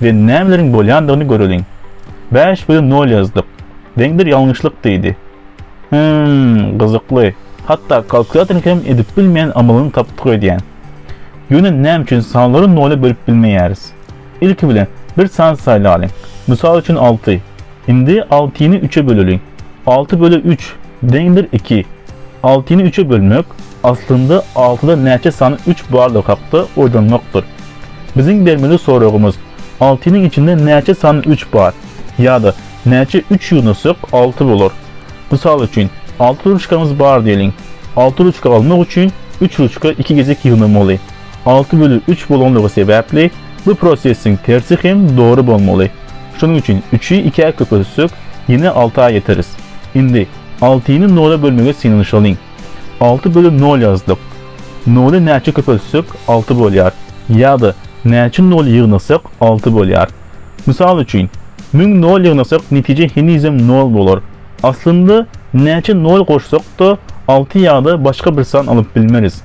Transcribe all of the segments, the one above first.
we nämeleriň bolýandygyny göreliň. Bäş bölüm nol ýazdyk. Deňdir ýalňyşlyk diýdi. Hym, gyzykly. Hatda kalkulýatoryň hem edip bilmeýän amalyny tapdyk öýdýän. Ýöne näme üçin sanlary nola bölüp bilmeýäris? Ilki bilen bir san saýlalyň. Mysal üçin alty. Indi altyny üçe böleliň. Alty böle üç deňdir iki. Altyny üçe bölmek, aslynda altyda näçe sany üç bardygy hakda oýlanmakdyr. Biziň bermeli soragymyz, altynyň içinde näçe sany üç bar? Ýa-da näçe üç ýygnatsak alty bolar? Mysal üçin, alty ruçkamyz bar diýeliň. Alty ruçka almak üçin üç ruçka iki gezek ýygnamaly. Alty bölü üç bolanlygy sebäpli bu prosesiň tersi hem dogry bolmaly. Şonuň üçin üçi ikä köpeltsek, ýene alta ýeteris. Indi altyny nola bölmegi synanyşalyň. Alty bölü nol ýazdyk. Noly näçe köpeltsek, alty bolýar. Ýa-da näçe nol ýygnasak, alty bolýar. Mysal üçin, müň nol ýygnasak netije henizem nol bolar. Aslynda näçe nol goşsak-da, alty ýa-da başga bir san alyp bilmeris.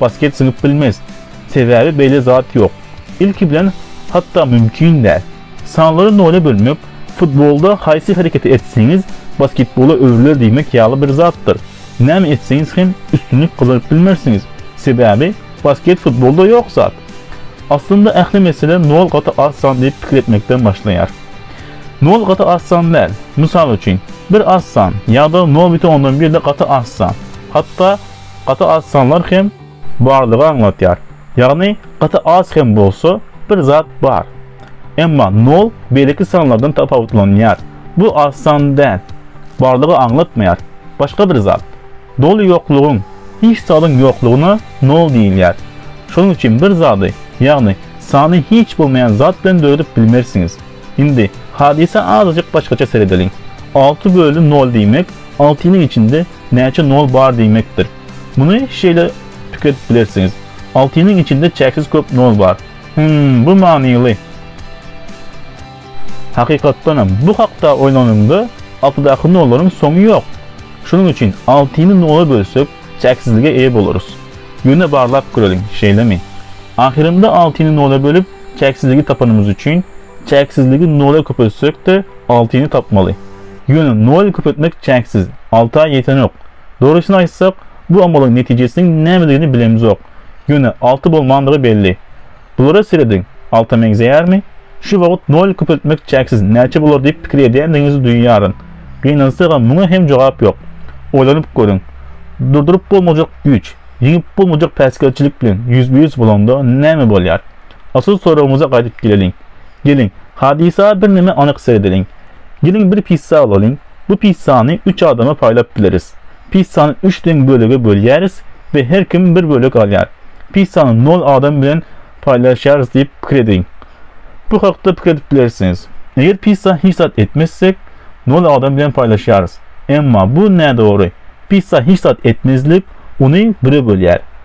Basket zyňyp bilmez. Sebäbi beýle zat ýok. Ilki bilen hatda mümkin däl. Sanlary nola bölmek futbolda haýsy hereketi etseňiz basketbola öwrüler diýmek ýaly bir zatdyr. Näme etseňiz hem üstünlik gazaryp bilmersiňiz. Sebäbi basket futbolda ýok zat. Aslynda ähli mesele nol gaty az san diýip pikir etmekden başlaýar. Nol gaty az san däl. Mysal üçin, bir az san ýa-da nol biten ondan birde gaty az san. Hatda Gaty az sanlar hem bardygy aňladýar. Ýagny gaty az hem bolsa bir zat bar. Emma nol beýleki sanlardan tapawutlanýar. Bu az san däl. Bardygy aňlatmaýar. Başga bir zat. Doly ýoklugyň, hiç zadyň ýoklugyna nol diýilýär. Şonuň üçin bir zady, ýagny sany hiç bolmaýan zat bilen döredip bilmersiňiz. Indi hadysa azajyk başgaça seredeliň. Alty böli nol diýmek altynyň içinde Näçe nol bar diýmekdir. Muny şeýle pikir edip bilersiňiz, Altynyň içinde çäksiz köp nol bar. Hümm, bu manyly. Hakykatdan hem, bu hakda oýlanyňda, altydaky nollaryň soňy ýok. Şonuň üçin altyny nola bölsek, çäksizlige eýe bolarys. Ýöne barlap göreliň, şeýlemi? Ahyrynda altyny nola bölüp, çäksizligi tapanymyz üçin, Çäksizligi nola köpeltsek-de, altyny tapmaly. Ýöne nol köpeltmek çäksiz, alta ýetenok. Dogrusyny aýtsak, bu amalyň netijesiniň nämedigini bilemzok. Ýöne alty bolmandygy belli. Bulara serediň, alta meňzeýärmi? Şu wagt nol köpeltmek çäksiz näçe bolar diýip pikir edýändigiňizi duýýaryn. Gynansagam muňa hem jogap ýok. Oýlanyp görüň. Durduryp bolmajak güýç, ýeňip bolmajak päsgelçilik bilen ýüzbe-ýüz bolanda näme bolýar? Asl soragymyza gaýdyp geleliň. Geliň, hadysa birneme anyk seredeliň. Geliň bir pissa alalyň. Bu pissany üç adama paýlap bileris. Pissany üç deň bölege bölýäris we her kim bir bölek alýar. Pissany nol adam bilen paýlaşýarys diýip pikir ediň. Bu hakda pikir edip bilersiňiz. Eger pissa hiç zat etmezsek, nol adam bilen paýlaşýarys. Emma bu nädogry. Pissa hiç zat etmezlik, ony bire bölýär.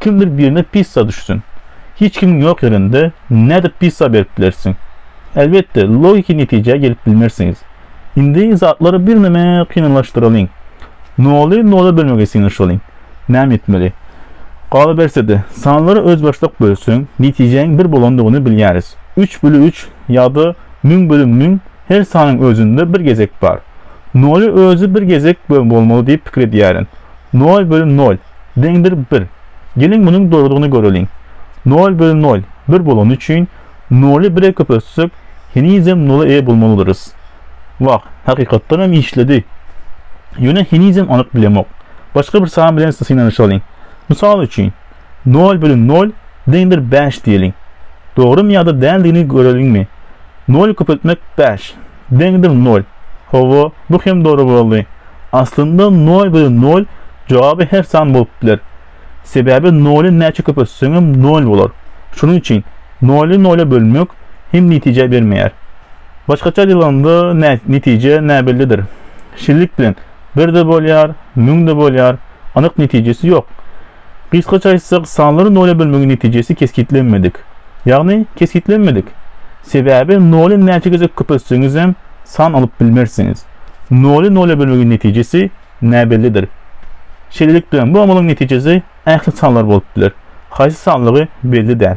Kim bilir birine pissa düşsün. Hiç kimiň ýok ýerinde nädip pissa berip bilersiň? Elbetde, logiki netijä gelip bilmersiňiz. Indi zatlary birneme kynlaşdyralyň. Noly nola bölmegi synanyşalyň. Näme etmeli? Galaberse-de, sanlary özbaşdak bölseň, netijäň bir bolandygyny bilýäris. Üç böli üç ýa-da müň böli müň her sanyň özünde bir gezek bar. Noly özi bir gezek bolmaly diýip pikir edýärin. Nol bölüm nol deňdir bir. Geliň munuň dogrydygyny göreliň. Nol bölüm nol bir bolany üçin, noly bire köpeltsek, henizem nola eýe bolmalydyrys. Wah, hakykatdan hem işledi. Ýöne henizem anyk bilemok. Başga bir san bilen synanyşalyň. Mysal üçin, Nol bölün nol deňdir bäş diýeliň. Dogrymy ýa-da däldigini göreliňmi? Noly köpeltmek bäş, deňdir nol. Hawa, bu hem dogry boldy. Aslynda nol bölün nol jogaby her san bolup biler. Sebäbi noly näçe köpeltseňem nol bolar. Şonuň üçin noly nola bölmek hem netije bermeýär. Başgaça aýdylanda netije näbellidir. Şillik bilen bir-de bolýar, müň-de bolýar, anyk netijesi ýok. Gysgaça aýtsak, sanlary nola bölmegiň netijesi kesgitlenmedik. Ýagny, kesgitlenmedik. Sebäbi noly näçe gezek köpeltseňizem, san alyp bilmersiňiz. Noly nola bölmegiň netijesi näbellidir. Şeýlelik bilen, bu amalyň netijesi ähli sanlar bolup biler. Haýsy sanlygy belli däl.